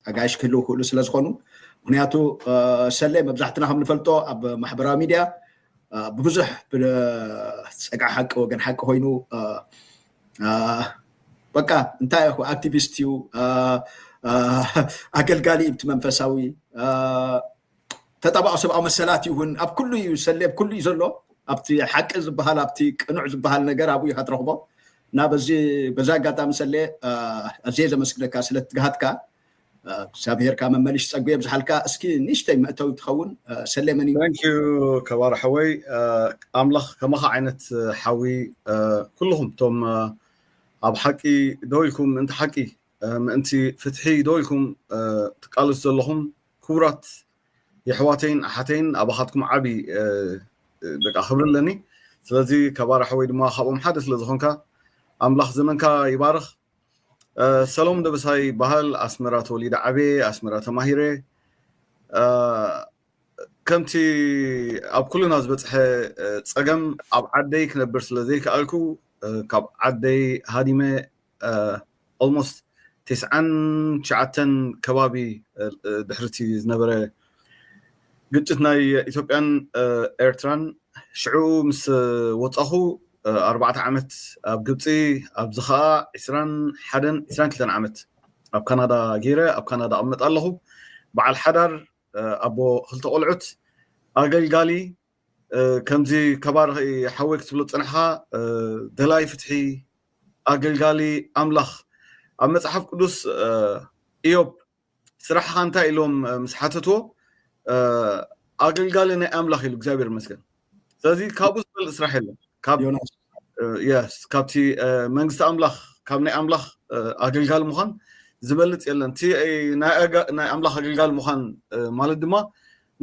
ኣጋይሽ ክህልው ክእሉ ስለ ዝኾኑ ምክንያቱ ሰለ መብዛሕትና ከም ንፈልጦ ኣብ ማሕበራዊ ሚድያ ብብዙሕ ፀግዓ ሓቂ ወገን ሓቂ ኮይኑ በቃ እንታይ ይኹ ኣክቲቪስት እዩ ኣገልጋሊ እቲ መንፈሳዊ ተጣባቒ ሰብኣዊ መሰላት እዩ እውን ኣብ ኩሉ እዩ ሰሌብ ኩሉ እዩ ዘሎ ኣብቲ ሓቂ ዝበሃል ኣብቲ ቅኑዕ ዝበሃል ነገር ኣብኡ ኢኻ ትረኽቦ እና በዚ በዛ ኣጋጣሚ ሰሌ ኣዝየ ዘመስግነካ ስለ ትግሃትካ እግዚኣብሄርካ መመሊሽ ፀጉ የብዝሓልካ እስኪ ንእሽተይ መእተዊ ትኸውን ሰሌ መን እዩ ታንኪዩ ከባር ሓወይ ኣምላኽ ከማኻ ዓይነት ሓዊ ኩልኹም እቶም ኣብ ሓቂ ደው ኢልኩም ምእንቲ ሓቂ ምእንቲ ፍትሒ ደው ኢልኩም ትቃለሱ ዘለኹም ክቡራት የሕዋተይን ኣሓተይን ኣባኻትኩም ዓቢ በቃ ክብሪ ኣለኒ ስለዚ ካብ ኣራሒ ወይ ድማ ካብኦም ሓደ ስለ ዝኾንካ ኣምላኽ ዘመንካ ይባርኽ ሰሎም ደበሳይ ይበሃል ኣስመራ ተወሊደ ዓበየ ኣስመራ ተማሂረ ከምቲ ኣብ ኩልና ዝበፅሐ ፀገም ኣብ ዓደይ ክነብር ስለ ዘይከኣልኩ ካብ ዓደይ ሃዲመ ኦልሞስት ቴስዓን ትሽዓተን ከባቢ ድሕሪ እቲ ዝነበረ ግጭት ናይ ኢትዮጵያን ኤርትራን ሽዑ ምስ ወፃኹ ኣርባዕተ ዓመት ኣብ ግብፂ ኣብዚ ከዓ ዕስራን ሓደን ዕስራን ክልተን ዓመት ኣብ ካናዳ ገይረ ኣብ ካናዳ ኣቕመጥ ኣለኹ በዓል ሓዳር ኣቦ ክልተ ቆልዑት ኣገልጋሊ ከምዚ ከባርኺ ሓወይ ክትብሎ ዝጸናሕኻ ደላይ ፍትሒ ኣገልጋሊ ኣምላኽ ኣብ መጽሓፍ ቅዱስ ኢዮብ ስራሕኻ እንታይ ኢሎም ምስ ሓተትዎ ኣገልጋሊ ናይ ኣምላኽ ኢሉ እግዚኣብሔር ይመስገን ስለዚ ካብኡ ዝበልጥ ስራሕ የለን ካብቲ መንግስቲ ኣምላኽ ካብ ናይ ኣምላኽ ኣገልጋሊ ምዃን ዝበልጽ የለን እቲ ናይ ኣምላኽ ኣገልጋሊ ምዃን ማለት ድማ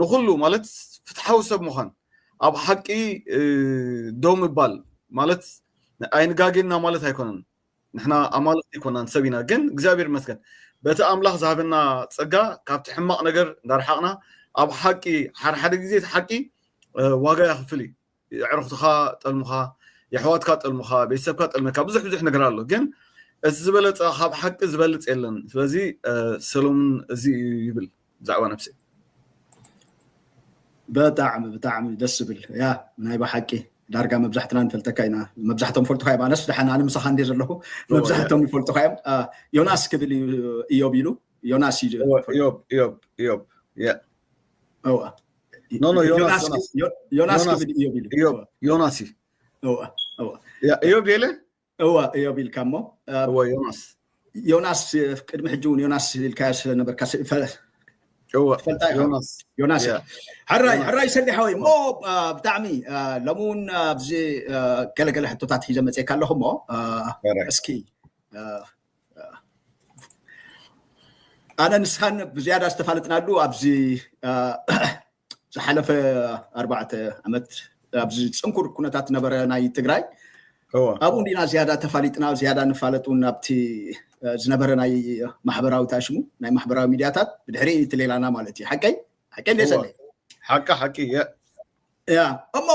ንኹሉ ማለት ፍትሓዊ ሰብ ምዃን ኣብ ሓቂ ደው ምባል ማለት ኣይንጋጌና ማለት ኣይኮነን ንሕና ኣማልኽቲ ኣይኮናን ሰብ ኢና ግን እግዚኣብሔር ይመስገን በቲ ኣምላኽ ዝሃበና ጸጋ ካብቲ ሕማቕ ነገር እንዳርሓቕና ኣብ ሓቂ ሓደሓደ ግዜ እቲ ሓቂ ዋጋ የኽፍል እዩ የዕሩኽትኻ ጠልሙኻ፣ የሕዋትካ ጠልሙኻ፣ ቤተሰብካ ጠልመካ፣ ብዙሕ ብዙሕ ነገር ኣሎ ግን እዚ ዝበለጸ ካብ ሓቂ ዝበልጽ የለን። ስለዚ ሰሎሙን እዚ እዩ ይብል ብዛዕባ ነብሰይ። ብጣዕሚ ብጣዕሚ ደስ ዝብል ያ ናይ ብሓቂ ዳርጋ መብዛሕትና ንፈልተካ ኢና መብዛሕቶም ይፈልጡካ እዮም ኣነስ ደሓን ኣነ ምሳኻ እንዲ ዘለኹ መብዛሕቶም ይፈልጡካ እዮም ዮናስ ክብል እዩ እዮብ ኢሉ ዮናስ እዩ እዮብ እዮብ እዮብ እወ ኖ ኖ ዮናስ ዮናስ ዮናስ ዮናስ- ክብል እዮብ ኢሉ እዮብ ዮናስ እዩ እወ እወ ያ- እዮብ የለ እወ እዮብ ኢልካ እሞ እ፣ እወ ዮናስ ዮናስ እ፣ ቅድሚ ሕጂ እውን ዮናስ ኢልካዮ ስለነበርካ ስ- ፈ- እወ ትፈልጣ ኢኻ ዮናስ ዮናስ ያ። ሕራይ ዮናስ። ሕራይ ሰሊሕ ወይ እሞ አ፣ ብጣዕሚ አ፣ ሎሚ እውን ኣብዚ አ፣ ገለገለ ሕቶታት ሒዘ መፅካ ኣለኹ እሞ አ፣ ሕራይ። እስኪ አ፣ ኣነ ንስኻን ብዝያዳ ዝተፋለጥናሉ ኣብዚ ዝሓለፈ ኣርባዕተ ዓመት ኣብዚ ፅንኩር ኩነታት ነበረ ናይ ትግራይ ኣብኡ እንዲና ዝያዳ ተፋሊጥና ዝያዳ ንፋለጥ እውን ኣብቲ ዝነበረ ናይ ማሕበራዊ ታሽሙ ናይ ማሕበራዊ ሚድያታት ብድሕሪ እቲ ሌላና ማለት እዩ ሓቀይ ሓቀይ ሌሰለ ሓቂ ሓቂ እያ እሞ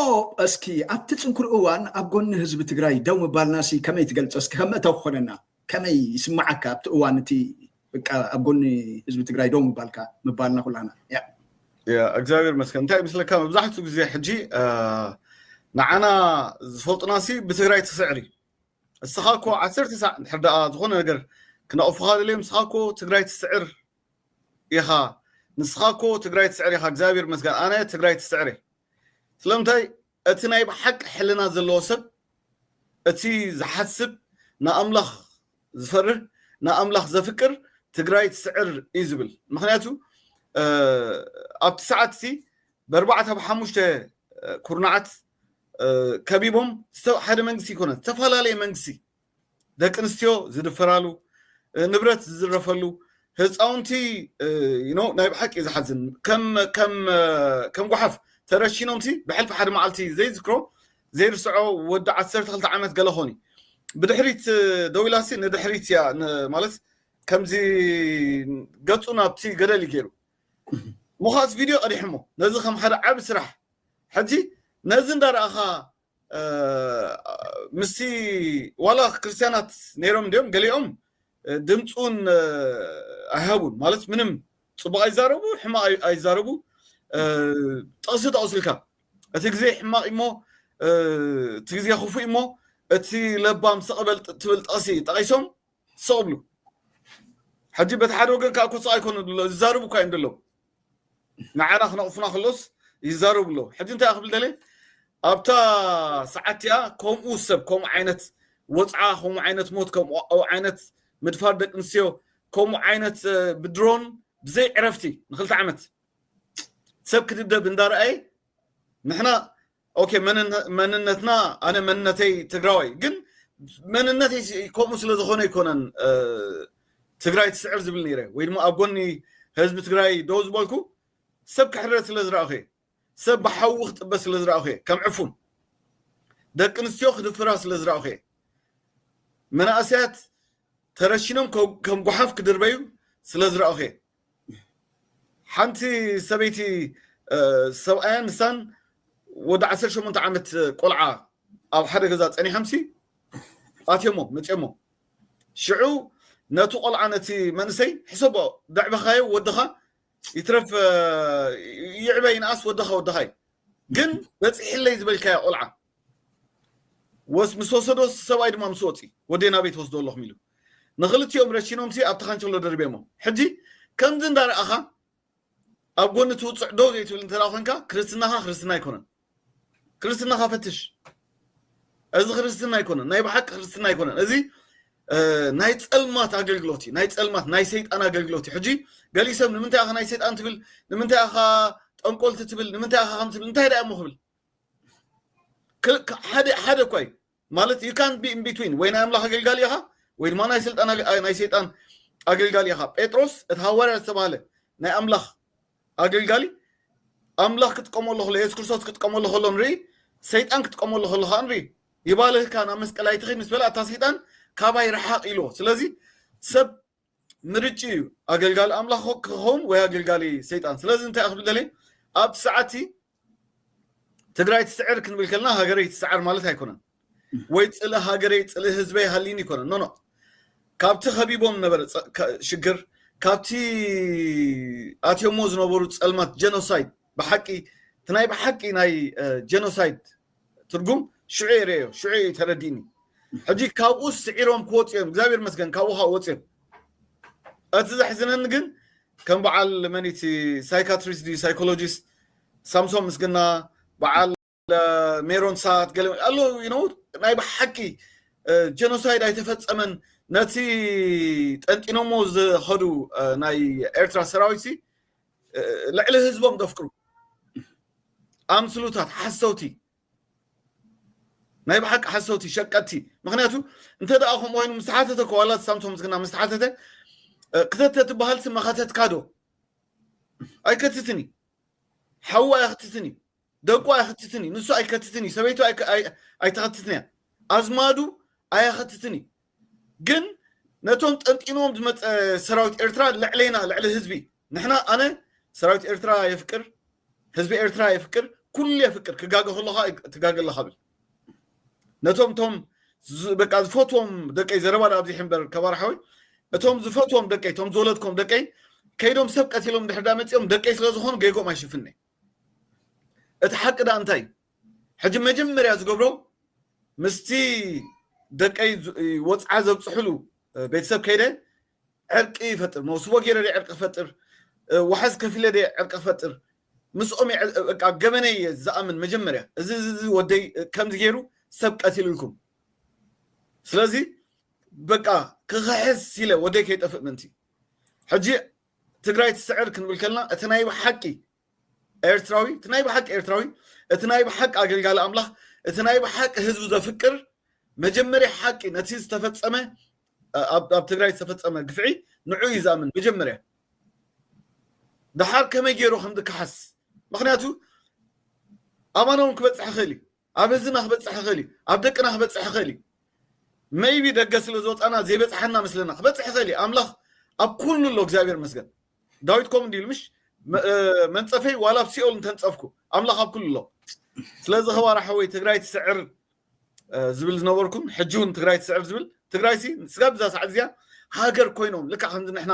እስኪ ኣብቲ ፅንኩር እዋን ኣብ ጎኒ ህዝቢ ትግራይ ደው ምባልናሲ ከመይ ትገልፆ እስኪ ከም መእተዊ ክኾነና ከመይ ይስማዓካ ኣብቲ እዋን እቲ በቃ ኣብ ጎኒ ህዝቢ ትግራይ ደው ምባልካ ምባልና ኩላና እያ እግዚኣብሔር መስከን እንታይ ምስለካ መብዛሕትኡ ግዜ ሕጂ ንዓና ዝፈልጡናሲ ብትግራይ ትስዕሪ እስኻ እኮ ዓሰርተ ሳዕ እንድሕር ደኣ ዝኾነ ነገር ክነቕፉኻ ደልዮም እስኻ እኮ ትግራይ ትስዕር ኢኻ ንስኻ እኮ ትግራይ ትስዕር ኢኻ እግዚኣብሔር ይመስገን ኣነ ትግራይ ትስዕር እየ ስለምንታይ እቲ ናይ ብሓቂ ሕልና ዘለዎ ሰብ እቲ ዝሓስብ ንኣምላኽ ዝፈርህ ንኣምላኽ ዘፍቅር ትግራይ ትስዕር እዩ ዝብል ምክንያቱ ኣብቲ ሰዓት እቲ በርባዕተ ብሓሙሽተ ኩርናዓት ከቢቦም ሓደ መንግስቲ ይኮነ ዝተፈላለየ መንግስቲ ደቂ ኣንስትዮ ዝድፈራሉ ንብረት ዝዝረፈሉ ህፃውንቲ ናይ ብሓቂ ዝሓዝን ከም ጓሓፍ ተረሺኖምሲ ብሕልፊ ሓደ መዓልቲ ዘይዝክሮ ዘይርስዖ ወዲ ዓሰርተ ክልተ ዓመት ገለ ኾን እዩ ብድሕሪት ደው ኢላሲ ንድሕሪት እያ ማለት ከምዚ ገፁ ናብቲ ገደል እዩ ገይሩ ምዃስ ቪድዮ ቀዲሕሞ ነዚ ከም ሓደ ዓብ ስራሕ ሕጂ ነዚ እንዳረኣኻ ምስቲ ዋላ ክርስትያናት ነይሮም እንዲኦም ገሊኦም ድምፂ እውን ኣይሃቡን ማለት ምንም ፅቡቅ ኣይዛረቡ ሕማቅ ኣይዛረቡ ጥቕሲ ጠቕሱልካ እቲ ግዜ ሕማቅ እሞ እቲ ግዜ ክፉእ እሞ እቲ ለባም ስቕ በል ትብል ጥቕሲ ጠቒሶም ስቕ ብሉ ሕጂ በቲ ሓደ ወገን ከዓ ኮፃ ኣይኮኑ ዝዛርቡ እኳ እዮም ዘለዉ ንዓና ክነቕፉና ከሎስ ይዛረቡ ኣለዉ። ሕጂ እንታይ ክብል ደልየ ኣብታ ሰዓት እቲኣ ከምኡ ሰብ ከምኡ ዓይነት ወጽዓ ከምኡ ዓይነት ሞት ከምኡ ዓይነት ምድፋር ደቂ ኣንስትዮ ከምኡ ዓይነት ብድሮን ብዘይ ዕረፍቲ ንክልተ ዓመት ሰብ ክድብደብ እንዳረኣየ ንሕና ኦኬ መንነትና ኣነ መንነተይ ትግራዋይ ግን መንነተይ ከምኡ ስለ ዝኾነ ኣይኮነን ትግራይ ትስዕር ዝብል ነይረ ወይ ድማ ኣብ ጎኒ ህዝቢ ትግራይ ደው ዝበልኩ ሰብ ክሕረድ ስለ ዝረእኹ እየ ሰብ ብሓዊ ክጥበ ስለ ዝረእኹ እየ ከም ዕፉን ደቂ ኣንስትዮ ክድፍራ ስለ ዝረእኹ እየ መናእሰያት ተረሽኖም ከም ጉሓፍ ክድርበዩ ስለ ዝረእኹ እየ ሓንቲ ሰበይቲ ሰብኣያን ንሳን ወዲ ዓሰርተ ሸሞንተ ዓመት ቆልዓ ኣብ ሓደ ገዛ ጸኒሖምሲ ኣትዮሞ መፅዮሞ ሽዑ ነቲ ቆልዓ ነቲ መንእሰይ ሕሰቦ ደዕበኻዮ ወድኻ ይትረፍ ይዕበ ይንኣስ ወድኻ ወድኻ እዩ ግን በፂሕለይ ዝበልካዮ ቆልዓ ወስ ምስ ወሰዶ እቲ ሰብኣይ ድማ ምስ ወጺ ወደይ ናበይ ትወስዶ ኣለኹም ኢሉ ንኽልቲኦም ረሺኖምሲ ኣብቲ ካንቸሎ ደርቢዮሞ ሕጂ ከምዚ እንዳረኣኻ ኣብ ጎኒ እቲ ውጹዕ ደው ዘይትብል እንተ ኮንካ ክርስትናኻ ክርስትና ኣይኮነን ክርስትናኻ ፈትሽ እዚ ክርስትና ኣይኮነን ናይ ብሓቂ ክርስትና ኣይኮነን እዚ ናይ ፀልማት ኣገልግሎት እዩ ናይ ፀልማት ናይ ሰይጣን ኣገልግሎት እዩ ሕጂ ገሊ ሰብ ንምንታይ ኢኻ ናይ ሰይጣን ትብል ንምንታይ ኢኻ ጠንቆልቲ ትብል ንምንታይ ኢኻ ከም ትብል እንታይ ዳእ እሞ ክብል ሓደ ሓደ እኳ እዩ ማለት ዩ ካን ቢ ኢንቢትዊን ወይ ናይ ኣምላኽ ኣገልጋሊ ኢኻ ወይ ድማ ናይ ስልጣን ናይ ሰይጣን ኣገልጋሊ ኢኻ ጴጥሮስ እቲ ሃዋርያ ዝተባህለ ናይ ኣምላኽ ኣገልጋሊ ኣምላኽ ክጥቀመሉ ከሎ የሱስ ክርስቶስ ክጥቀመሉ ከሎ ንርኢ ሰይጣን ክጥቀመሉ ከሎ ከዓ ንርኢ ይባልህካ ናብ መስቀል ኣይትኸይድ ምስ በላ እታ ሰይጣን ካባይ ረሓቕ ኢልዎ ስለዚ ሰብ ምርጭኡ እዩ ኣገልጋሊ ኣምላኽ ክኸውን ወይ ኣገልጋሊ ሰይጣን ስለዚ እንታይ ክብል ደልየ ኣብቲ ሰዓትቲ ትግራይ ትስዕር ክንብል ከለና ሃገረይ ትስዓር ማለት ኣይኮነን ወይ ፅሊ ሃገረይ ፅሊ ህዝበይ ሃሊኒ ይኮነን ኖኖ ካብቲ ከቢቦም ነበረ ሽግር ካብቲ ኣትዮሞ ዝነበሩ ፀልማት ጀኖሳይድ ብሓቂ እቲ ናይ ብሓቂ ናይ ጀኖሳይድ ትርጉም ሽዑ እየ ርእዮ ሽዑ እዩ ተረዲእኒ ሕጂ ካብኡ ስዒሮም ክወፁ እዮም እግዚኣብሔር መስገን ካብኡ ካብ ወፅዮም እቲ ዘሕዝነኒ ግን ከም በዓል መኒቲ ሳይካትሪስት ድዩ ሳይኮሎጂስት ሳምሶን ምስግና በዓል ሜሮን ሳት ገለ ኣሎ ነው ናይ ብሓቂ ጀኖሳይድ ኣይተፈፀመን ነቲ ጠንጢኖሞ ዝኸዱ ናይ ኤርትራ ሰራዊት ሲ ልዕሊ ህዝቦም ዘፍቅሩ ኣምስሉታት ሓሰውቲ ናይ ብሓቂ ሓሰውቲ ሸቀጥቲ ምክንያቱ እንተ ደኣ ከምኡ ኮይኑ ምስ ተሓተተ እኮ ዋላ ሳምሶም ምስግና ምስ ተሓተተ ክተተ ትበሃል ስመኸተትካ ዶ ኣይከትትን እዩ ሓዋ እያ ክትትን እዩ ደቁ ኣይኽትትን እዩ ንሱ ኣይከትትን እዩ ሰበይቱ ኣይተኸትትን እያ ኣዝማዱ ኣያኸትትን እዩ ግን ነቶም ጠንጢንዎም ዝመፀ ሰራዊት ኤርትራ ልዕሌና ልዕሊ ህዝቢ ንሕና ኣነ ሰራዊት ኤርትራ የፍቅር ህዝቢ ኤርትራ የፍቅር ኩሉ የፍቅር ክጋገ ከለኻ ትጋገ ኣለኻ ብል ነቶም እቶም በቃ ዝፈትዎም ደቀይ ዘረባ ዳ ኣብዚሕ እምበር ከባር ሓወይ እቶም ዝፈትዎም ደቀይ እቶም ዝወለድኮም ደቀይ ከይዶም ሰብ ቀቲሎም ድሕር ዳ መፂኦም ደቀይ ስለ ዝኾኑ ጌጎም ኣይሽፍን እቲ ሓቂ ደኣ እንታይ እዩ? ሕጂ መጀመርያ ዝገብሮ ምስቲ ደቀይ ወጽዓ ዘብጽሕሉ ቤተሰብ ከይደ ዕርቂ ይፈጥር፣ መውስቦ ገይረ ድየ ዕርቂ ክፈጥር፣ ዋሕስ ከፊለ ድየ ዕርቂ ክፈጥር፣ ምስኦም እየ በቃ ገበነይ እየ ዝኣምን መጀመርያ። እዚ እዚ ወደይ ከምዚ ገይሩ ሰብ ቀቲሉልኩም ስለዚ በቃ ክኽሕስ ኢለ ወደይ ከይጠፍእ ምእንቲ ሕጂ ትግራይ ትስዕር ክንብል ከለና እቲ ናይ ብሓቂ ኤርትራዊ እቲ ናይ ብሓቂ ኤርትራዊ እቲ ናይ ብሓቂ ኣገልጋሊ ኣምላኽ እቲ ናይ ብሓቂ ህዝቡ ዘፍቅር መጀመርያ ሓቂ ነቲ ዝተፈፀመ ኣብ ትግራይ ዝተፈፀመ ግፍዒ ንዑ እዩ ዝኣምን መጀመርያ ድሓር ከመይ ገይሩ ከም ዝከሓስ ምክንያቱ ኣማና እውን ክበፅሕ ይኽእል እዩ ኣብ ህዝብና ክበጽሕ ይኽእል እዩ ኣብ ደቅና ክበጽሕ ይኽእል እዩ መይቢ ደገ ስለ ዝወጻና ዘይበጽሓና መስለና ክበጽሕ ይኽእል እዩ ኣምላኽ ኣብ ኩሉ ኣሎ እግዚኣብሔር መስገን ዳዊት ከምኡ እንዲሉ ምሽ መንጸፈይ ዋላ ኣብ ሲኦል እንተንጸፍኩ ኣምላኽ ኣብ ኩሉ ኣሎ ስለዚ ኸባራ ሓወይ ትግራይ ትስዕር ዝብል ዝነበርኩም ሕጂ እውን ትግራይ ትስዕር ዝብል ትግራይ ሲ ስጋብ እዛ ሰዓት እዚኣ ሃገር ኮይኖም ልክዕ ከምዚ ንሕና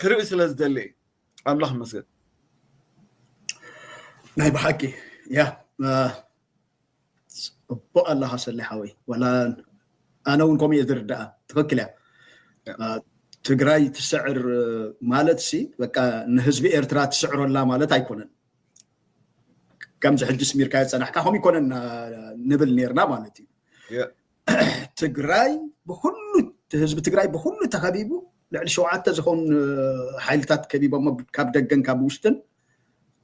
ክርኢ ስለ ዝደሊ እየ ኣምላኽ ይመስገን ናይ ብሓቂ ያ ፅቡቅ ኣለካ ሰለ ሓወይ ዋላ ኣነ እውን ከምኡ እየ ዝርዳኣ ትክክል እያ ትግራይ ትስዕር ማለት ሲ በቃ ንህዝቢ ኤርትራ ትስዕሮ ኣላ ማለት ኣይኮነን ከምዚ ሕጂ ስሚርካ የፀናሕካ ከምኡ ይኮነን ንብል ነርና ማለት እዩ ትግራይ ብኩሉ ህዝቢ ትግራይ ብኩሉ ተኸቢቡ ልዕሊ ሸውዓተ ዝኾኑ ሓይልታት ከቢቦሞ ካብ ደገን ካብ ውሽጥን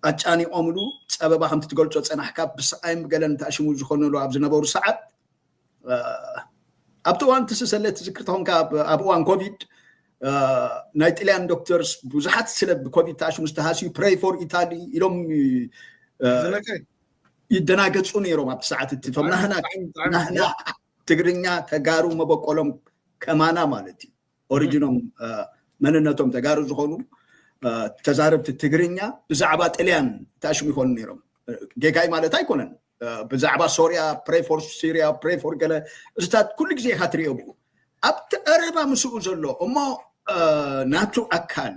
ኣጫኒቖምሉ ፀበባ ከምቲ ትገልፆ ፀናሕካ ብስቓይን ብገለን ተኣሽሙ ዝኾነሉ ኣብ ዝነበሩ ሰዓት ኣብቲ እዋን ትስ ሰለ ትዝክር ተኾንካ ኣብ እዋን ኮቪድ ናይ ጥልያን ዶክተርስ ብዙሓት ስለ ብኮቪድ ተኣሽሙ ዝተሃስዩ ፕሬይ ፎር ኢታሊ ኢሎም ይደናገጹ ነይሮም ኣብቲ ሰዓት እቲ እቶም ናህና ናህና ትግርኛ ተጋሩ መበቆሎም ከማና ማለት እዩ ኦሪጂኖም መንነቶም ተጋሩ ዝኾኑ ተዛረብቲ ትግርኛ ብዛዕባ ጥልያን ተኣሽሙ ይኾኑ ነይሮም ጌጋይ ማለት ኣይኮነን ብዛዕባ ሶርያ ፕሬ ፎር ሲርያ ፕሬ ፎር ገለ እዚታት ኩሉ ግዜ ኢኻ ትሪኦ ብኡ ኣብቲ ቀረባ ምስኡ ዘሎ እሞ ናቱ ኣካል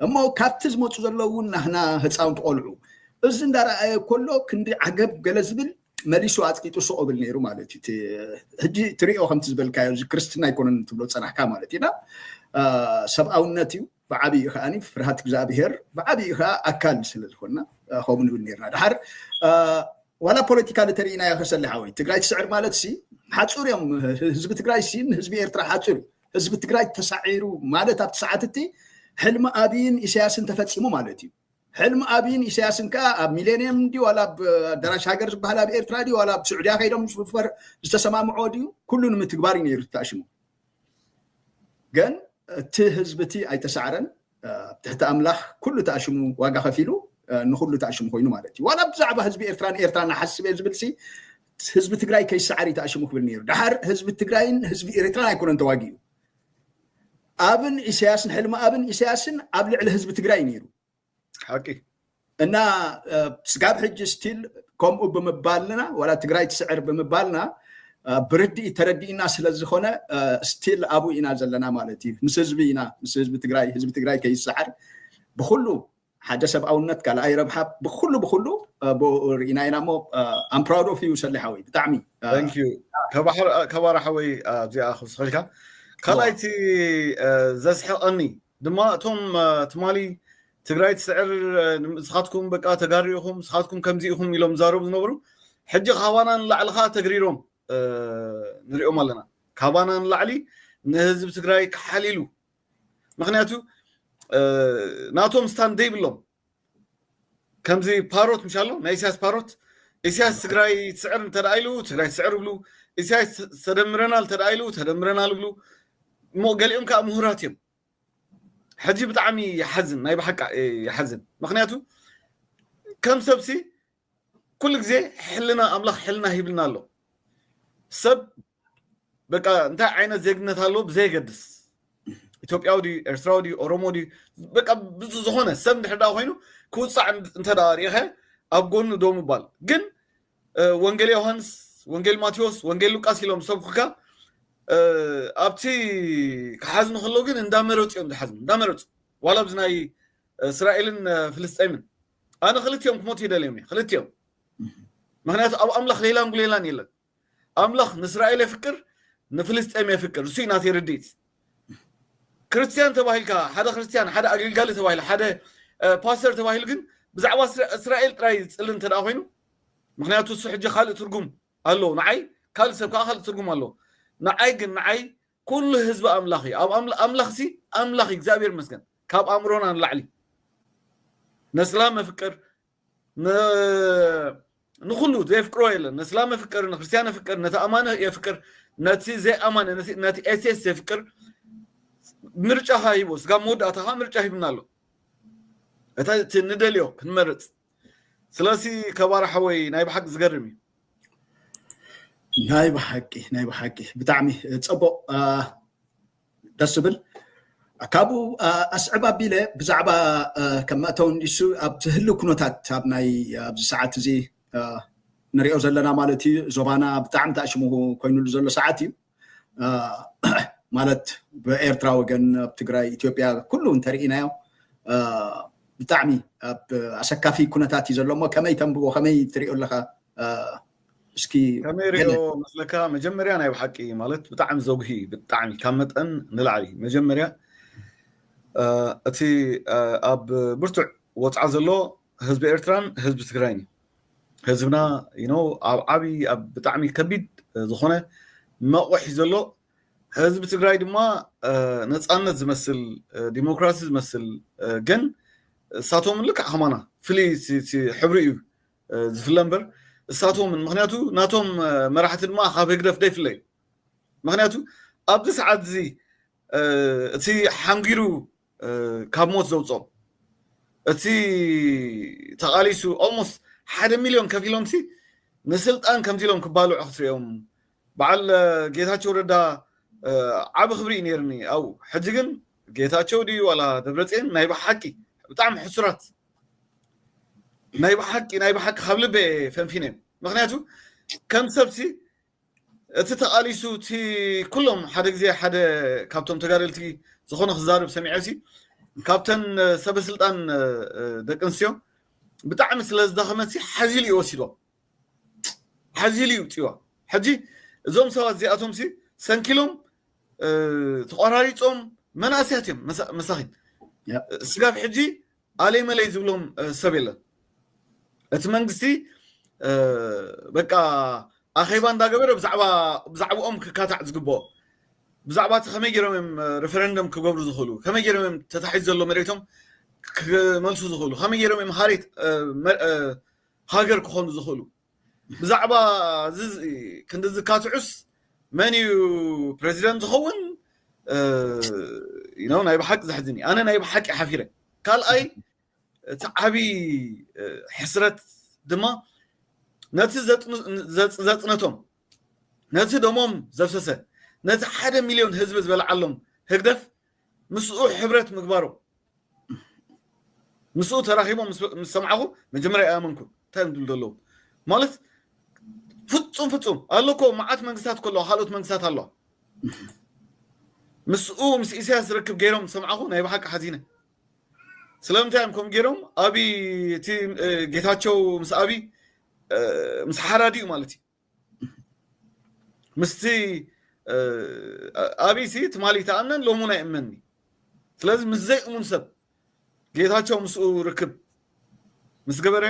እሞ ካብቲ ዝመጹ ዘለዉ እውን ናህና ህጻውንቲ ቆልዑ እዚ እንዳረኣየ ኮሎ ክንዲ ዓገብ ገለ ዝብል መሊሱ ኣጽቂጡ ሱቕ እብል ነይሩ ማለት እዩ ሕጂ ትሪኦ ከምቲ ዝበልካዮ እዚ ክርስትና ኣይኮነን ትብሎ ጸናሕካ ማለት ኢና ሰብኣውነት እዩ ብዓብዪ ከዓኒ ፍርሃት እግዚኣብሄር ብዓብዪ ከዓ ኣካል ስለ ዝኾንና ከምኡ ንብል ነርና ድሓር ዋላ ፖለቲካ ንተርእናዮ ከሰሊ ሓወይ ትግራይ ትስዕር ማለት ሲ ሓፁር እዮም ህዝቢ ትግራይ ሲ ንህዝቢ ኤርትራ ሓፁር እዩ ህዝቢ ትግራይ ተሳዒሩ ማለት ኣብቲ ሰዓት እቲ ሕልሚ ኣብይን ኢሳያስን ተፈፂሙ ማለት እዩ። ሕልሚ ኣብይን ኢሳያስን ከዓ ኣብ ሚሌኒየም ድዩ ዋላ ኣብ ኣዳራሽ ሃገር ዝበሃል ኣብ ኤርትራ ድዩ ዋላ ኣብ ስዑድያ ከይዶም ዝፍፈር ዝተሰማምዖ ድዩ ኩሉ ንምትግባር እዩ ነይሩ ተታሽሙ። ግን እቲ ህዝቢ እቲ ኣይተሳዕረን። ኣብ ትሕቲ ኣምላኽ ኩሉ ተኣሽሙ ዋጋ ከፊሉ ንኹሉ ተኣሽሙ ኮይኑ ማለት እዩ ዋላ ብዛዕባ ህዝቢ ኤርትራ ንኤርትራ ንሓስብ እየ ዝብል ሲ ህዝቢ ትግራይ ከይሰዓር እዩ ተኣሽሙ ክብል ነይሩ ድሓር ህዝቢ ትግራይን ህዝቢ ኤርትራን ኣይኮነን ተዋጊኡ ኣብን ኢሳያስን ሕልሚ ኣብን ኢሳያስን ኣብ ልዕሊ ህዝቢ ትግራይ ነይሩ ሓቂ እና ስጋብ ሕጂ ስቲል ከምኡ ብምባልና ዋላ ትግራይ ትስዕር ብምባልና ብርድኢት ተረዲእና ስለዝኾነ ስቲል ኣብኡ ኢና ዘለና ማለት እዩ ምስ ህዝቢ ኢና ምስ ህዝቢ ትግራይ ህዝቢ ትግራይ ከይሰዓር ብኩሉ ሓደ ሰብኣውነት ካልኣይ ረብሓ ብኩሉ ብኩሉ ርኢና ኢና እሞ ኣም ፕራውድ ኦፍ ዩ ሰሊ ሓወይ ብጣዕሚ ከባራ ሓወይ እዚኣ ክውስኸልካ ካልኣይቲ ዘስሕቐኒ ድማ እቶም ትማሊ ትግራይ ትስዕር ንስኻትኩም በቃ ተጋሩ ኢኹም ንስኻትኩም ከምዚ ኢኹም ኢሎም ዛረቡ ዝነበሩ ሕጂ ካባና ንላዕሊ ከዓ ተግሪሮም ንሪኦም ኣለና ካባና ንላዕሊ ንህዝቢ ትግራይ ክሓልሉ ምክንያቱ ናቶም ስታንድ ዘይብሎም ከምዚ ፓሮት ምሽ ኣሎ ናይ ኢሳያስ ፓሮት ኢሳያስ ትግራይ ትስዕር እንተ ኢሉ ትግራይ ትስዕር ይብሉ ኢሳያስ ተደምረናል እንተ ኢሉ ተደምረናል ይብሉ እሞ ገሊኦም ከዓ ምሁራት እዮም ሕጂ ብጣዕሚ ይሓዝን ናይ ብሓቂ ይሓዝን ምክንያቱ ከም ሰብሲ ኩሉ ግዜ ሕልና ኣምላኽ ሕልና ሂብልና ኣሎ ሰብ በቃ እንታይ ዓይነት ዜግነት ኣለዎ ብዘየገድስ ኢትዮጵያዊ ድዩ ኤርትራዊ ድዩ ኦሮሞ ድዩ በቃ ብዙ ዝኾነ ሰብ እንድሕር ደኣ ኮይኑ ክውፃዕ እንተ ደኣ ርኢኸ ኣብ ጎኑ ዶ ምባል ግን ወንጌል ዮሃንስ ወንጌል ማቴዎስ ወንጌል ሉቃስ ኢሎም ሰብኩካ ኣብቲ ክሓዝኑ ከሎ ግን እንዳመረፁ እዮም ዝሓዝኑ እንዳመረፁ ዋላ ኣብዚ ናይ እስራኤልን ፍልስጤምን ኣነ ክልቲኦም ክሞቱ ይደልዮም እየ ክልቲኦም ምክንያቱ ኣብ ኣምላኽ ሌላን ጉሌላን የለን ኣምላኽ ንእስራኤል የፍቅር ንፍልስጤም የፍቅር እሱይ ናተይ ርድኢት ክርስትያን ተባሂልካ ሓደ ክርስትያን ሓደ ኣገልጋሊ ተባሂሉ ሓደ ፓስተር ተባሂሉ ግን ብዛዕባ እስራኤል ጥራይ ዝፅሊ እንተ ኮይኑ ምክንያቱ እሱ ሕጂ ካልእ ትርጉም ኣለዎ ንዓይ ካልእ ሰብ ከዓ ካልእ ትርጉም ኣለዎ ንዓይ ግን ንዓይ ኩሉ ህዝቢ ኣምላኽ እዩ ኣብ ኣምላኽሲ ኣምላኽ እግዚኣብሔር ይመስገን ካብ ኣእምሮና ንላዕሊ ነስላ መፍቅር ንኩሉ ዘየፍቅሮ የለን ነስላም የፍቅር ንክርስትያን የፍቅር ነቲ ኣማነ የፍቅር ነቲ ዘይኣማነ ነቲ ኤቴስ የፍቅር ምርጫኻ ሂቦ ስጋብ መወዳእታኻ ምርጫ ሂብና ኣሎ እቲ ንደልዮ ክንመርፅ ስለሲ ከባር ሓወይ ናይ ብሓቂ ዝገርም እዩ ናይ ብሓቂ ናይ ብሓቂ ብጣዕሚ ፅቡቅ ደስ ዝብል ካብኡ ኣስዕብ ኣቢለ ብዛዕባ ከም መእተው እንዲሱ ኣብ ትህሉ ኩነታት ኣብ ናይ ኣብዚ ሰዓት እዚ ንሪኦ ዘለና ማለት እዩ ዞባና ብጣዕሚ ተኣሽሙ ኮይኑሉ ዘሎ ሰዓት እዩ ማለት ብኤርትራ ወገን ኣብ ትግራይ ኢትዮጵያ ኩሉ እንተርኢናዮ ብጣዕሚ ኣብ ኣሰካፊ ኩነታት እዩ ዘሎ እሞ ከመይ ተንብቦ ከመይ ትሪኦ ኣለካ እስኪ ከመይ ሪኦ መስለካ መጀመርያ ናይ ብሓቂ ማለት ብጣዕሚ ዘጉሂ እዩ ብጣዕሚ ካብ መጠን ንላዕሊ መጀመርያ እቲ ኣብ ብርቱዕ ወፅዓ ዘሎ ህዝቢ ኤርትራን ህዝቢ ትግራይን እዩ ህዝብና ኣብ ዓብዪ ኣብ ብጣዕሚ ከቢድ ዝኾነ መቑሕ እዩ ዘሎ። ህዝቢ ትግራይ ድማ ነፃነት ዝመስል ዲሞክራሲ ዝመስል ግን እሳቶም ልክዕ ከማና ፍልይ ሕብሪ እዩ ዝፍለ እምበር እሳቶምን ምክንያቱ ናቶም መራሕቲ ድማ ካብ ህግደፍ ደይፍለዩ ምክንያቱ ኣብዚ ሰዓት እዚ እቲ ሓንጊሩ ካብ ሞት ዘውፅኦም እቲ ተቓሊሱ ኦልሞስት ሓደ ሚሊዮን ከፊሎምሲ ንስልጣን ከምዚ ኢሎም ክባልዑ ክትሪኦም በዓል ጌታቸው ረዳ ዓብ ክብሪ እዩ ነይርኒ ኣብኡ ሕጂ ግን ጌታቸው ድዩ ዋላ ደብረፅን ናይ ብሓቂ ብጣዕሚ ሕሱራት ናይ ብሓቂ ናይ ብሓቂ ካብ ልበ ፈንፊነ ምክንያቱ ከም ሰብሲ እቲ ተቃሊሱ እቲ ኩሎም ሓደ ግዜ ሓደ ካብቶም ተጋደልቲ ዝኾነ ክዛርብ ሰሚዐሲ ካብተን ሰበ ስልጣን ደቂ ኣንስትዮ ብጣዕሚ ስለ ዝደኸመሲ ሓዚሉ እዩ ወሲድዋ ሓዚሉ እዩ ውፅዋ ሕጂ እዞም ሰባት እዚኣቶምሲ ሰንኪሎም ተቆራሪፆም መናእስያት እዮም መሳኺን ስጋብ ሕጂ ኣለይ መለይ ዝብሎም ሰብ የለን እቲ መንግስቲ በቃ ኣኼባ እንዳገበረ ብዛዕባኦም ክካታዕ ዝግብኦ ብዛዕባ እቲ ከመይ ገይሮም እዮም ሬፈረንደም ክገብሩ ዝኽእሉ ከመይ ገይሮም እዮም ተታሒዝ ዘሎ መሬቶም ክመልሱ ዝኽእሉ ከመይ ገይሮም እዮም ሃሬት ሃገር ክኾኑ ዝኽእሉ ብዛዕባ ክንዲ ዝካትዑስ መን እዩ ፕረዚደንት ዝኸውን ኢኖ ናይ ብሓቂ ዘሕዝን እዩ ኣነ ናይ ብሓቂ ሓፊረ ካልኣይ እቲ ዓብዪ ሕስረት ድማ ነቲ ዘፅነቶም ነቲ ደሞም ዘፍሰሰ ነቲ ሓደ ሚልዮን ህዝቢ ዝበልዓሎም ህግደፍ ምስኡ ሕብረት ምግባሩ ምስኡ ተራኺቦም ምስ ሰማዕኹ መጀመርያ ኣይኣመንኩን እንታይ እዮም ዝብሉ ዘለዉ ማለት ፍጹም ፍጹም ኣሎ እኮ መዓት መንግስታት እኮ ኣለዋ ካልኦት መንግስታት ኣለዋ ምስኡ ምስ ኢሳያስ ዝርክብ ገይሮም ሰምዓኹ ናይ ብሓቂ ሓዚነ ስለምንታይ እዮም ከምኡ ገይሮም ኣብይ እቲ ጌታቸው ምስ ኣብይ ምስ ሓራዲኡ ማለት እዩ ምስቲ ኣብይሲ ትማሊ ተኣምነን ሎሚ እውን ኣይእመን እዩ ስለዚ ምስ ዘይእሙን ሰብ ጌታቸው ምስኡ ርክብ ምስ ገበረ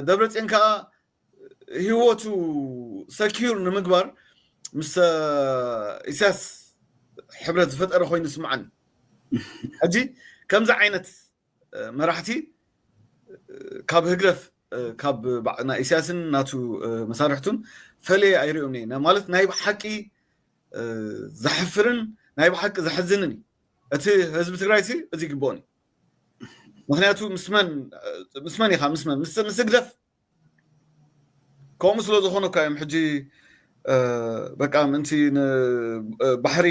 ደብረፅዮን ከዓ ህይወቱ ሰኪዩር ንምግባር ምስ ኢሳያስ ሕብረት ዝፈጠረ ኮይኑ ስምዓኒ ሕጂ ከምዚ ዓይነት መራሕቲ ካብ ህግደፍ ካብ ናይ ኢሳያስን ናቱ መሳርሕቱን ፈለየ ኣይሪኦም እየ ማለት ናይ ብሓቂ ዘሕፍርን ናይ ብሓቂ ዘሕዝንን እዩ እቲ ህዝቢ ትግራይ ሲ እዚ ይግብኦን እዩ ምክንያቱ ምስመን ምስመን ኢካ ምስመን ምስ ህግደፍ ከምኡ ስለ ዝኾኑ እኳ እዮም ሕጂ በቃ ምእንቲ ባሕሪ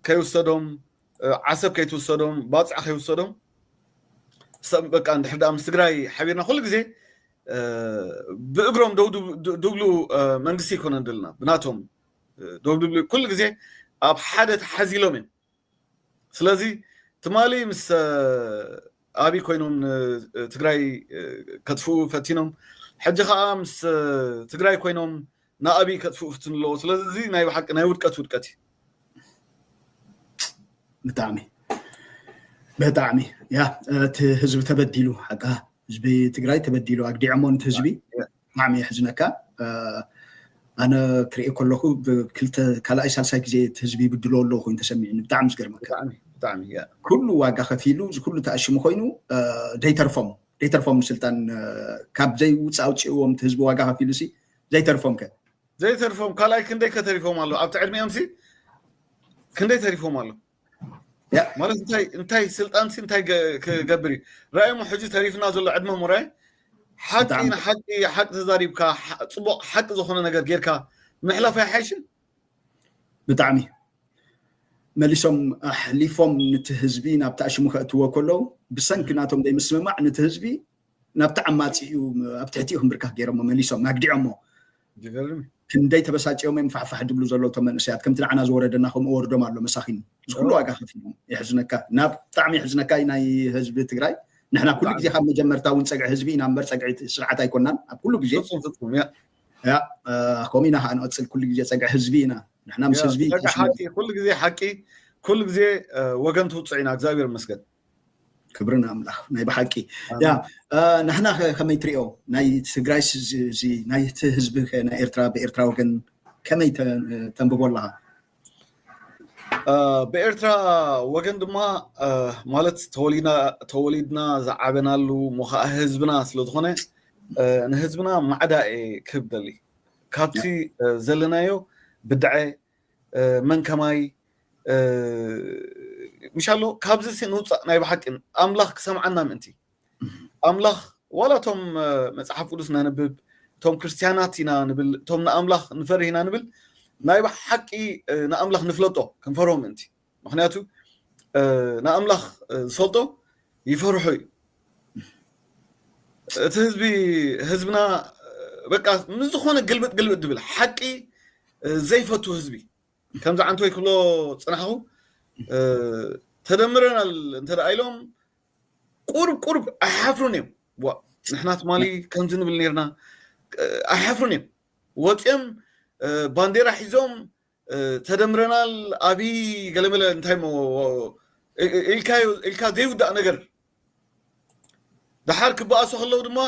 ከይውሰዶም ዓሰብ ከይትውሰዶም ባፅዕ ከይውሰዶም ሰብ በቃ እንድሕር ደኣ ምስ ትግራይ ሓቢርና ኩሉ ግዜ ብእግሮም ደው ድብሉ መንግስቲ ኣይኮነን ደልና ብናቶም ደው ድብሉ ኩሉ ግዜ ኣብ ሓደ ተሓዚሎም እዮም ስለዚ ትማሊ ምስ ኣብይ ኮይኖም ንትግራይ ከጥፍኡ ፈቲኖም ሕጂ ከዓ ምስ ትግራይ ኮይኖም ንኣብይ ከጥፍኡ ፍትኑ ኣለዎ ስለዚ እዚ ናይ ብሓቂ ናይ ውድቀት ውድቀት እዩ ብጣዕሚ ብጣዕሚ ያ እቲ ህዝቢ ተበዲሉ ሓቃ ህዝቢ ትግራይ ተበዲሉ ኣግዲዖሞ ንቲ ህዝቢ ብጣዕሚ የሕዝነካ ኣነ ክሪኤ ከለኩ ክልተ ካልኣይ ሳልሳይ ግዜ እቲ ህዝቢ ይብድሎ ኣለዎ ኮይኑ ተሰሚዕኒ ብጣዕሚ እዩ ዝገርመካ ብጣዕሚ እያ ኩሉ ዋጋ ከፊሉ እዚ ኩሉ ተኣሽሙ ኮይኑ ዘይተርፎም ዘይተርፎም ንስልጣን ካብ ዘይውፃእ ኣውፅእዎም እቲ ህዝቢ ዋጋ ከፊሉ ሲ ዘይተርፎም ከ ዘይተርፎም ካልኣይ ክንደይ ከተሪፎም ኣሎ ኣብቲ ዕድሜኦም ሲ ክንደይ ተሪፎም ኣሎ ማለት እንታይ እንታይ ስልጣን ሲ እንታይ ክገብር እዩ ራእሞ ሕጂ ተሪፍና ዘሎ ዕድመ ሙራይ ሓቂ ንሓቂ ሓቂ ተዛሪብካ ፅቡቅ ሓቂ ዝኾነ ነገር ጌርካ ምሕላፍ ኣይሓይሽን ብጣዕሚ መሊሶም ኣሕሊፎም ነቲ ህዝቢ ናብቲ ኣሽሙ ከእትዎ ከለዉ ብሰንኪ ናቶም ዘይምስምማዕ ነቲ ህዝቢ ናብቲ ዓማፂኡ ኣብ ትሕቲኡ ክምብርካኽ ገይሮሞ መሊሶም ኣግዲዖሞ ክንደይ ተበሳጭዮም እዮም ፋሕፋሕ ዝብሉ ዘለዉ እቶም መንእሰያት ከምቲ ንዓና ዝወረደና ከምኡ ወርዶም ኣሎ መሳኪን እዚ ኩሉ ዋጋ ከፊሎም የሕዝነካ እና ብጣዕሚ የሕዝነካ እዩ ናይ ህዝቢ ትግራይ ንሕና ኩሉ ግዜ ካብ መጀመርታ እውን ፀግዒ ህዝቢ ኢና እምበር ፀግዒ ስርዓት ኣይኮናን ኣብ ኩሉ ግዜ ከምኡ ኢና ከዓ ንቐፅል ኩሉ ግዜ ፀግዒ ህዝቢ ኢና ንሕና ምስ ህዝቢ ኩሉ ግዜ ሓቂ ኩሉ ግዜ ወገን ትውፅዕ ኢና እግዚኣብሔር ይመስገን ክብሪ ንኣምላኽ ናይ ብሓቂ ያ ንሕና ከ ከመይ ትሪኦ ናይ ትግራይ እዚ ናይቲ ህዝቢ ከ ናይ ኤርትራ ብኤርትራ ወገን ከመይ ተንብቦ ኣለኻ ብኤርትራ ወገን ድማ ማለት ተወሊድና ዝዓበናሉ እሞ ከዓ ህዝብና ስለዝኾነ ንህዝብና ማዕዳ እየ ክህብ ደሊ ካብቲ ዘለናዮ ብድዐ መን ከማይ ምሻሎ ካብዚ ሲ ንውፃእ ናይ ብሓቂ ኣምላኽ ክሰምዓና ምእንቲ ኣምላኽ ዋላ እቶም መፅሓፍ ቅዱስ ነንብብ እቶም ክርስትያናት ኢና ንብል እቶም ንኣምላኽ ንፈርህ ኢና ንብል ናይ ብሓቂ ንኣምላኽ ንፍለጦ ክንፈርሆ ምእንቲ ምክንያቱ ንኣምላኽ ዝፈልጦ ይፈርሖ እዩ እቲ ህዝቢ ህዝብና በቃ ንዝኾነ ግልብጥ ግልብጥ ድብል ሓቂ ዘይፈቱ ህዝቢ ከምዚ ዓንተወይ ክብሎ ፅናሕኹ ተደምረናል እንተ ኢሎም ቁርብ ቁርብ ኣይሓፍሩን እዮም ዋ ንሕና ትማሊ ከምዚ ንብል ነርና ኣይሓፍሩን እዮም ወፂኦም ባንዴራ ሒዞም ተደምረናል ኣብይ ገለመለ እንታይ እሞ ኢልካዮ ኢልካ ዘይውዳእ ነገር ደሓር ክበኣሱ ከለዉ ድማ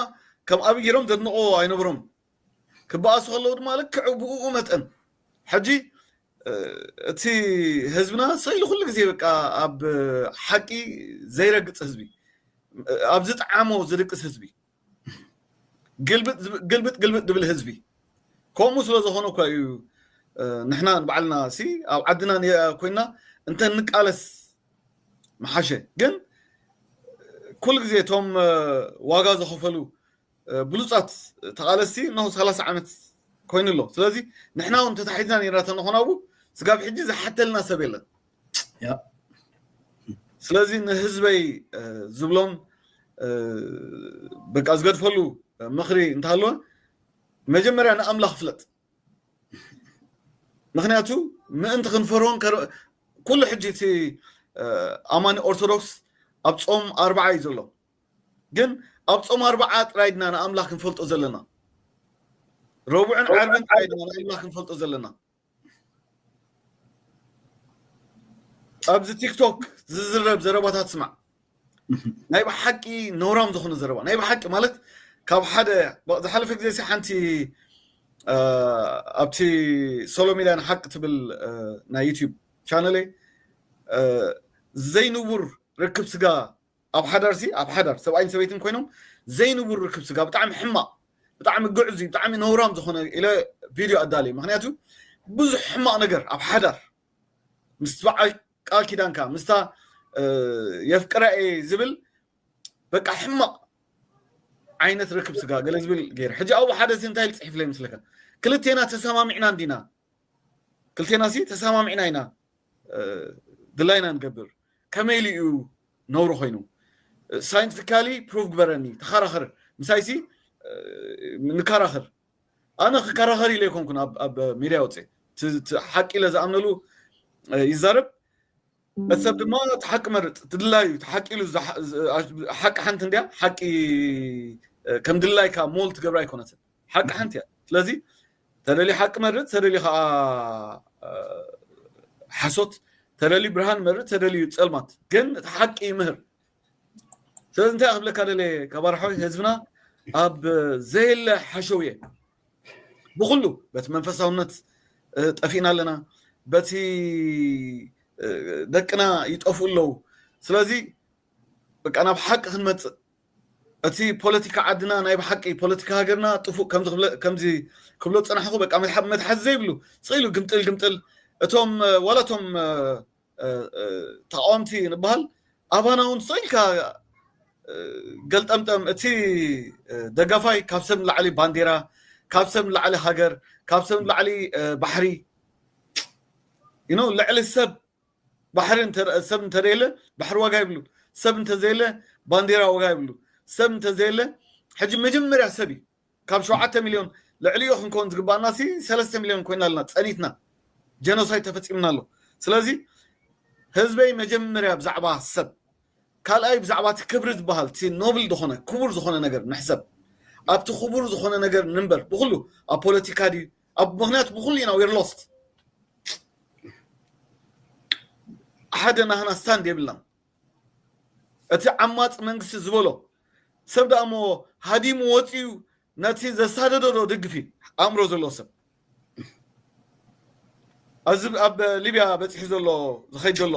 ከም ኣብይ ገይሮም ዘድንቆ ኣይነበሮም ክበኣሱ ከለዉ ድማ ልክዕ ብኡ መጠን ሕጂ እቲ ህዝብና ሰኢሉ ኩሉ ግዜ በቃ ኣብ ሓቂ ዘይረግፅ ህዝቢ ኣብ ዝጠዓሞ ዝድቅስ ህዝቢ ግልብጥ ግልብጥ ግልብጥ ድብል ህዝቢ ከምኡ ስለ ዝኾነ እኳ እዩ ንሕና ንባዕልና ሲ ኣብ ዓድና ኮይና እንተ ንቃለስ ምሓሸ ግን ኩሉ ግዜ እቶም ዋጋ ዝኸፈሉ ብሉፃት ተቓለስቲ እነሆ ሰላሳ ዓመት ኮይኑ ኣሎ ስለዚ ንሕና እውን ተታሒዝና ነርና ተንኾና እው ስጋብ ሕጂ ዝሓተልና ሰብ የለን ስለዚ ንህዝበይ ዝብሎን በቃ ዝገድፈሉ ምኽሪ እንተሃለወ መጀመርያ ንኣምላኽ ፍለጥ ምክንያቱ ምእንቲ ክንፈርሆን ኩሉ ሕጂ እቲ ኣማኒ ኦርቶዶክስ ኣብ ፆም ኣርባዓ እዩ ዘሎ ግን ኣብ ፆም ኣርባዓ ጥራይ ድና ንኣምላኽ ክንፈልጦ ዘለና ረቡዕን ዓርብን ጥራይ ድና ንኣምላኽ ክንፈልጦ ዘለና ኣብዚ ቲክቶክ ዝዝረብ ዘረባታት ስማዕ ናይ ብሓቂ ነውራም ዝኾነ ዘረባ ናይ ብሓቂ ማለት ካብ ሓደ ዝሓለፈ ግዜ ሲ ሓንቲ ኣብቲ ሶሎ ሚድያ ንሓቂ ትብል ናይ ዩትብ ቻነለይ ዘይንቡር ርክብ ስጋ ኣብ ሓዳርሲ ኣብ ሓዳር ሰብኣይን ሰበይትን ኮይኖም ዘይንቡር ርክብ ስጋ ብጣዕሚ ሕማቕ ብጣዕሚ ግዕዙይ ብጣዕሚ ነውራም ዝኾነ ኢለ ቪድዮ ኣዳልየ ምክንያቱ ብዙሕ ሕማቕ ነገር ኣብ ሓዳር ምስ በዓል ቃል ኪዳንካ ምስታ የፍቅራ እየ ዝብል በቃ ሕማቕ ዓይነት ርክብ ስጋ ገለ ዝብል ገይረ ሕጂ ኣብኡ ሓደ ሲ እንታይ ኢሉ ፅሒፍለይ ምስለካ ክልቴና ተሰማሚዕና እንዲና ክልቴና ሲ ተሰማሚዕና ኢና ድላይና ንገብር ከመይ ኢሉ እዩ ነውሪ ኮይኑ ሳይንቲፊካሊ ፕሩቭ ግበረኒ ተኸራኸር ምሳይሲ ንከራኸር ኣነ ክከራኸር ኢለ ኣይኮንኩን ኣብ ሚድያ ወፅእ ሓቂ ኢለ ዝኣምነሉ ይዛረብ እቲ ሰብ ድማ እቲ ሓቂ መርፅ እቲ ድላይ እዩ እቲ ሓቂ ኢሉ ሓቂ ሓንቲ እንድያ ሓቂ ከም ድላይካ ሞል ትገብራ ኣይኮነትን ሓቂ ሓንቲ እያ ስለዚ ተለሊ ሓቂ መርጽ ተለሊ ከዓ ሓሶት ተለሊ ብርሃን መርጽ ተለሊ ጸልማት ግን እቲ ሓቂ ይምህር ስለዚ እንታይ ክብለካ ደለ ካባርሖይ ህዝብና ኣብ ዘየለ ሓሸውየ ብኩሉ በቲ መንፈሳውነት ጠፊእና ኣለና በቲ ደቅና ይጠፍኡ ኣለዉ ስለዚ በቃ ናብ ሓቂ ክንመፅእ እቲ ፖለቲካ ዓድና ናይ ብሓቂ ፖለቲካ ሃገርና ጥፉእ ከምዚ ክብሎ ዝጸናሕኩ በቃ መትሓዚ ዘይብሉ ስቅ ኢሉ ግምጥል ግምጥል እቶም ዋላ እቶም ተቃወምቲ ንበሃል ኣባና እውን ስቅ ኢልካ ገልጠምጠም እቲ ደጋፋይ ካብ ሰብ ንላዕሊ ባንዴራ ካብ ሰብ ንላዕሊ ሃገር ካብ ሰብ ንላዕሊ ባሕሪ ልዕሊ ሰብ ባሕሪ እንተ ሰብ እንተዘየለ ባሕሪ ዋጋ የብሉ ሰብ እንተዘየለ ባንዴራ ዋጋ የብሉ ሰብ እንተዘየለ ሕጂ መጀመርያ ሰብ እዩ ካብ ሸውዓተ ሚልዮን ልዕሊኡ ክንከውን ዝግባኣና ሲ ሰለስተ ሚልዮን ኮይና ኣለና ጸኒትና ጀኖሳይድ ተፈጺምና ኣሎ ስለዚ ህዝበይ መጀመርያ ብዛዕባ ሰብ ካልኣይ ብዛዕባ እቲ ክብሪ ዝበሃል እቲ ኖብል ዝኾነ ክቡር ዝኾነ ነገር ንሕሰብ ኣብቲ ክቡር ዝኾነ ነገር ንንበር ብኩሉ ኣብ ፖለቲካ ድዩ ኣብ ምክንያት ብኩሉ ኢና ዊር ሎስት ሓደ ናህና ስታንድ የብልናን እቲ ዓማፅ መንግስቲ ዝበሎ ሰብ ደኣ እሞ ሃዲሙ ወፂኡ ነቲ ዘሳደዶ ዶ ደግፍ እዩ ኣእምሮ ዘለዎ ሰብ እዚ ኣብ ሊብያ በፂሑ ዘሎ ዝኸይድ ዘሎ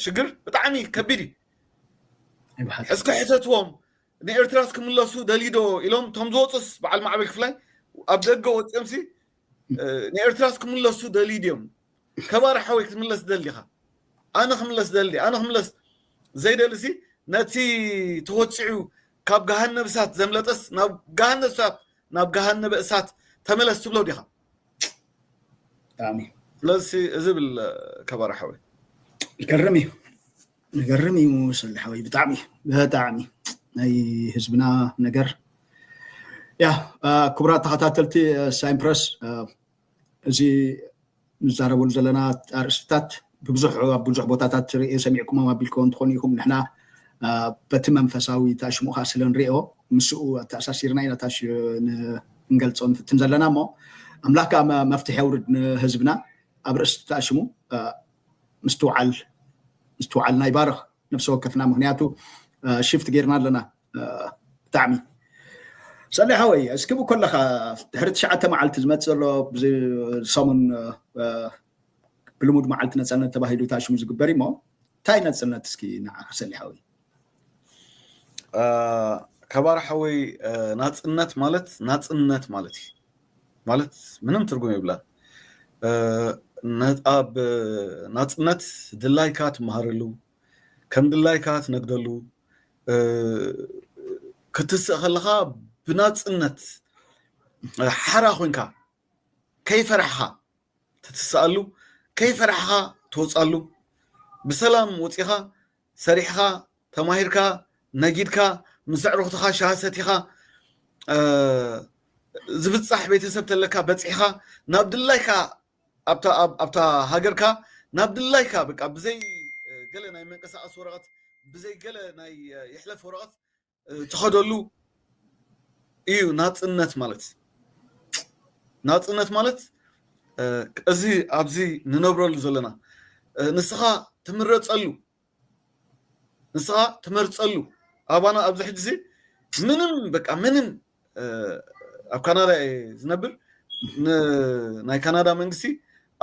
ሽግር ብጣዕሚ ከቢድ እዩ እስከ ሕተትዎም ንኤርትራስ ክምለሱ ደልዩ ዶ ኢሎም እቶም ዝወፁስ በዓል ማዕበል ክፍላይ ኣብ ደገ ወፂኦምሲ ንኤርትራስ ክምለሱ ደልዩ ድዮም ከባር ሓወይ ክትምለስ ትደሊ ዲኻ ኣነ ክምለስ ደሊ ኣነ ክምለስ ዘይደልሲ ነቲ ተወፂዑ ካብ ገሃነብ እሳት ዘምለጠስ ናብ ገሃነብ እሳት ናብ ገሃነበ እሳት ተመለስ ትብሎ ዲኻ ብጣዕሚ ስለዚ እዚ ብል ከባር ሓወይ ገርም እዩ ንገርም እዩ ሰለ ሓወይ ብጣዕሚ ብጣዕሚ ናይ ህዝብና ነገር ያ ክቡራት ተኸታተልቲ ሳይን ፕረስ እዚ ንዛረበሉ ዘለና ኣርእስትታት ብብዙሕ ኣብ ብዙሕ ቦታታት ርእየ ሰሚዕኩሞም ኣቢልከዎ እንትኾኑ ኢኹም ንሕና በቲ መንፈሳዊ ታሽሙ ከዓ ስለ ንሪኦ ምስኡ ኣተኣሳሲርና ኢና ታሽ ንገልፆ ንፍትን ዘለና እሞ ኣምላክ ከዓ መፍትሒ የውርድ ንህዝብና ኣብ ርእስቲ ታሽሙ ምስትውዓል ምስትውዓልና ይባርኽ ነፍሲ ወከፍና ምክንያቱ ሽፍት ጌርና ኣለና ብጣዕሚ ሰሌ ሓወይ እስኪ ብኮለካ ድሕሪ ትሽዓተ መዓልቲ ዝመፅ ዘሎ ሰሙን ብልሙድ መዓልቲ ነፃነት ተባሂሉ ታሽሙ ዝግበር እሞ እንታይ ነፅነት እስኪ ንዓካ ሰሌ ሓወይ ከባር ሓወይ ናፅነት ማለት ናፅነት ማለት እዩ ማለት ምንም ትርጉም የብላን ኣብ ናፅነት ድላይካ ትመሃረሉ ከም ድላይካ ትነግደሉ ክትስእ ከለካ ብናፅነት ሓራ ኮንካ ከይፈራሕካ ትትስኣሉ ከይፈራሕካ ትወፅኣሉ ብሰላም ወፂኻ ሰሪሕኻ ተማሂርካ ነጊድካ ምስ ኣዕሩኽትኻ ሻሂ ሰቲኻ ዝብጻሕ ቤተሰብ ተለካ በጺሕኻ ናብ ድላይካ ኣብታ ሃገርካ ናብ ድላይካ በቃ ብዘይ ገለ ናይ መንቀሳቐሲ ወረቐት ብዘይ ገለ ናይ ይሕለፍ ወረቐት ትኸደሉ እዩ ናፅነት ማለት ናፅነት ማለት እዚ ኣብዚ ንነብረሉ ዘለና ንስኻ ትምረፀሉ ንስኻ ትመርፀሉ ኣባና ኣብዚ ሕጂ እዚ ምንም በቃ ምንም ኣብ ካናዳ እየ ዝነብር ናይ ካናዳ መንግስቲ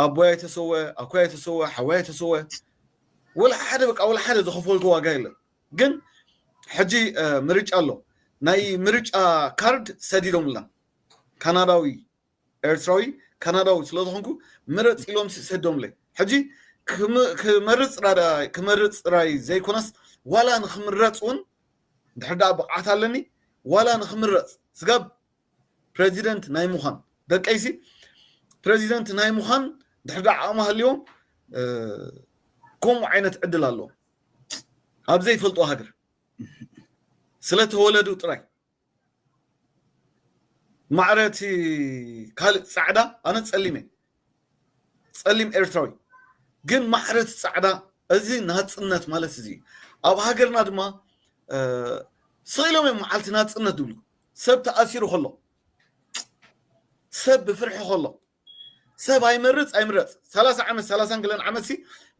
ኣቦይ ኣይተሰወ ኣኮይ ኣይተሰወ ሓወይ ኣይተሰወ ወላ ሓደ በቃ ወላ ሓደ ዝኸፈልኩ ዋጋ የለን ግን ሕጂ ምርጫ ኣሎ ናይ ምርጫ ካርድ ሰዲዶምልና ካናዳዊ ኤርትራዊ ካናዳዊ ስለ ዝኾንኩ ምረጽ ኢሎምሲ ሰዲዶምለይ ሕጂ ክመርጽ ራዳይ ክመርጽ ጥራይ ዘይኮነስ ዋላ ንክምረጽ እውን ድሕሪ ደኣ ብቕዓት ኣለኒ ዋላ ንክምረጽ ስጋብ ፕረዚደንት ናይ ምዃን ደቀይሲ ፕረዚደንት ናይ ምዃን ድሕሪ ደኣ ዓቕሚ ሃልዮም ከምኡ ዓይነት ዕድል ኣለዎም ኣብ ዘይፈልጦ ሃገር ስለ ተወለዱ ጥራይ ማዕረ እቲ ካልእ ጻዕዳ ኣነ ጸሊም እየ ጸሊም ኤርትራዊ ግን ማዕረ እቲ ጻዕዳ እዚ ናጽነት ማለት እዚ ኣብ ሃገርና ድማ ስኢሎም እዮም መዓልቲ ናጽነት ዝብሉ ሰብ ተኣሲሩ ከሎ ሰብ ብፍርሒ ከሎ ሰብ ኣይመርጽ ኣይምረጽ ሰላሳ ዓመት ሰላሳን ገለን ዓመት ሲ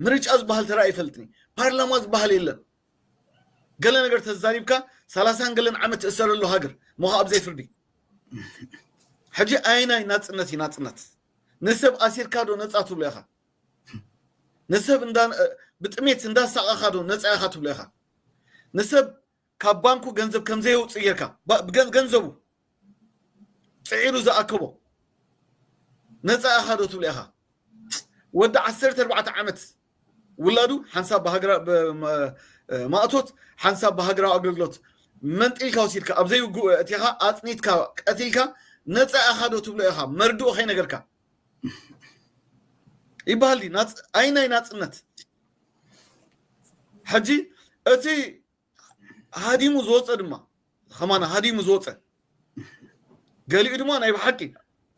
ምርጫ ዝበሃል ተራ ይፈልጥኒ ፓርላማ ዝበሃል የለን ገለ ነገር ተዛሪብካ ሰላሳን ገለን ዓመት ትእሰረሉ ሃገር ሞኸ ኣብ ዘይፍርዲ ሕጂ ኣይናይ ናፅነት እዩ ናፅነት ንሰብ ኣሲርካ ዶ ነፃ ትብሎ ኢኻ ንሰብ ብጥሜት እንዳሳቐኻ ዶ ነፃ ኢኻ ትብሎ ኢኻ ንሰብ ካብ ባንኩ ገንዘብ ከም ዘየውጽእ ጌርካ ገንዘቡ ጽዒሩ ዝኣከቦ ነጻ ኢኻ ዶ ትብሎ ኢኻ ወዲ ዓሰርተ ኣርባዕተ ዓመት ውላዱ ሓንሳብ ብሃገራ ማእቶት ሓንሳብ ብሃገራዊ ኣገልግሎት መንጢልካ ወሲድካ ኣብ ዘይውግኡ እቲኻ ኣጽኒትካ ቀቲልካ ነጻ ኢኻ ዶ ትብሎ ኢኻ መርድኡ ከይነገርካ ይበሃል ድዩ ኣይ ናይ ናጽነት ሕጂ እቲ ሃዲሙ ዝወፀ ድማ ከማን ሃዲሙ ዝወፀ ገሊኡ ድማ ናይ ብሓቂ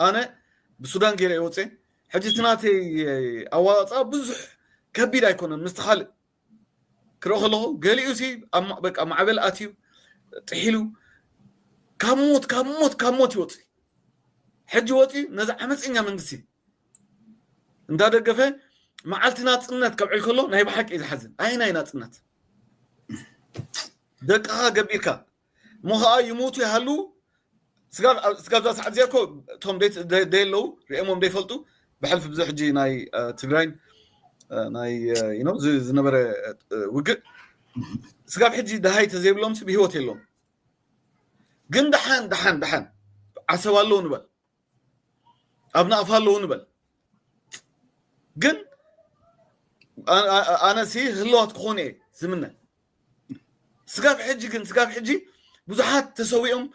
ኣነ ብሱዳን ገይረ ይወፀ ሕጂ እቲ ናተይ ኣዋፃ ብዙሕ ከቢድ ኣይኮነን ምስቲ ካልእ ክርኢ ከለኹ ገሊኡ ሲ በቃ ማዕበል ኣትዩ ጥሒሉ ካብ ሞት ካብ ሞት ካብ ሞት ይወፅእ ሕጂ ወፅኡ ነዚ ዓመፀኛ መንግስቲ እንዳ ደገፈ መዓልቲ ናጽነት ከብዕል ከሎ ናይ ብሓቂ እዩ ዝሓዝን ኣየናይ ናጽነት ደቅኻ ገቢርካ እሞ ከዓ ይሞቱ ይሃልው ስጋብዛ ሰዓት እዚኣ እኮ እቶም ደየለዉ ሪኦሞም ደይፈልጡ ብሕልፊ ብዙ ሕጂ ናይ ትግራይን ናይ ነው ዝነበረ ውግእ ስጋብ ሕጂ ድሃይ ተዘይብሎም ሲ ብሂወት የለዎም ግን ድሓን ድሓን ድሓን ዓሰብ ኣለዉ ንበል ኣብ ናቕፋ ኣለዉ ንበል ግን ኣነ ሲ ህለዋት ክኾኑ እየ ዝምነ ስጋብ ሕጂ ግን ስጋብ ሕጂ ብዙሓት ተሰዊኦም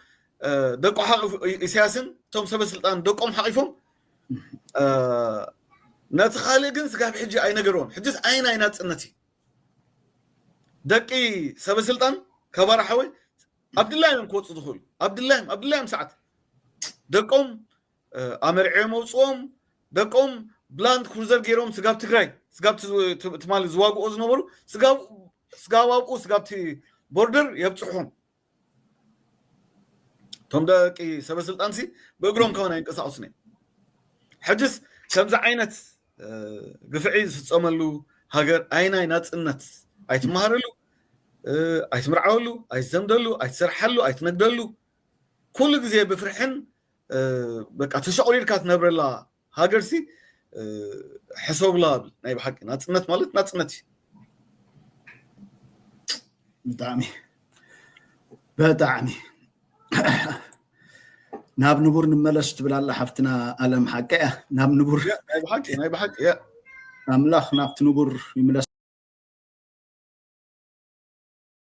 ደቁ ሓቂፉ ኢሳያስን እቶም ሰበስልጣን ደቆም ሓቂፎም ነቲ ካልእ ግን ስጋብ ሕጂ ኣይነገርዎም ሕጅስ ዓይን ኣይናፅነት እዩ ደቂ ሰበስልጣን ከባራ ሓወይ ኣብ ድላዮም እዮም ክወፁ ዝኽእሉ ኣብ ድላዮም ኣብ ድላዮም ሰዓት ደቆም ኣመርዕዮም ኣውፅኦም ደቆም ብላንድ ክሩዘር ገይሮም ስጋብ ትግራይ ስጋብ ትማሊ ዝዋግኦ ዝነበሩ ስጋብ ኣብኡ ስጋብቲ ቦርደር የብፅሑም እቶም ደቂ ሰበስልጣንሲ ብእግሮም ከሆነ ኣይንቀሳቀሱን እዮም ሕጅስ ከምዚ ዓይነት ግፍዒ ዝፍፀመሉ ሃገር ኣይናይ ናፅነት ኣይትመሃረሉ ኣይትምርዓወሉ ኣይትዘምደሉ ኣይትሰርሓሉ ኣይትነግደሉ ኩሉ ግዜ ብፍርሕን በቃ ተሸቑሪርካ ትነብረላ ሃገር ሲ ሕሰብላ ናይ ብሓቂ ናፅነት ማለት ናፅነት እዩ ብጣዕሚ ብጣዕሚ ናብ ንቡር ንመለስ ትብል ኣላ ሓፍትና ኣለም ሓቂ እያ ናብ ንቡር ናይ ብሓቂ ናይ ብሓቂ እያ ኣምላኽ ናብቲ ንቡር ይምለስ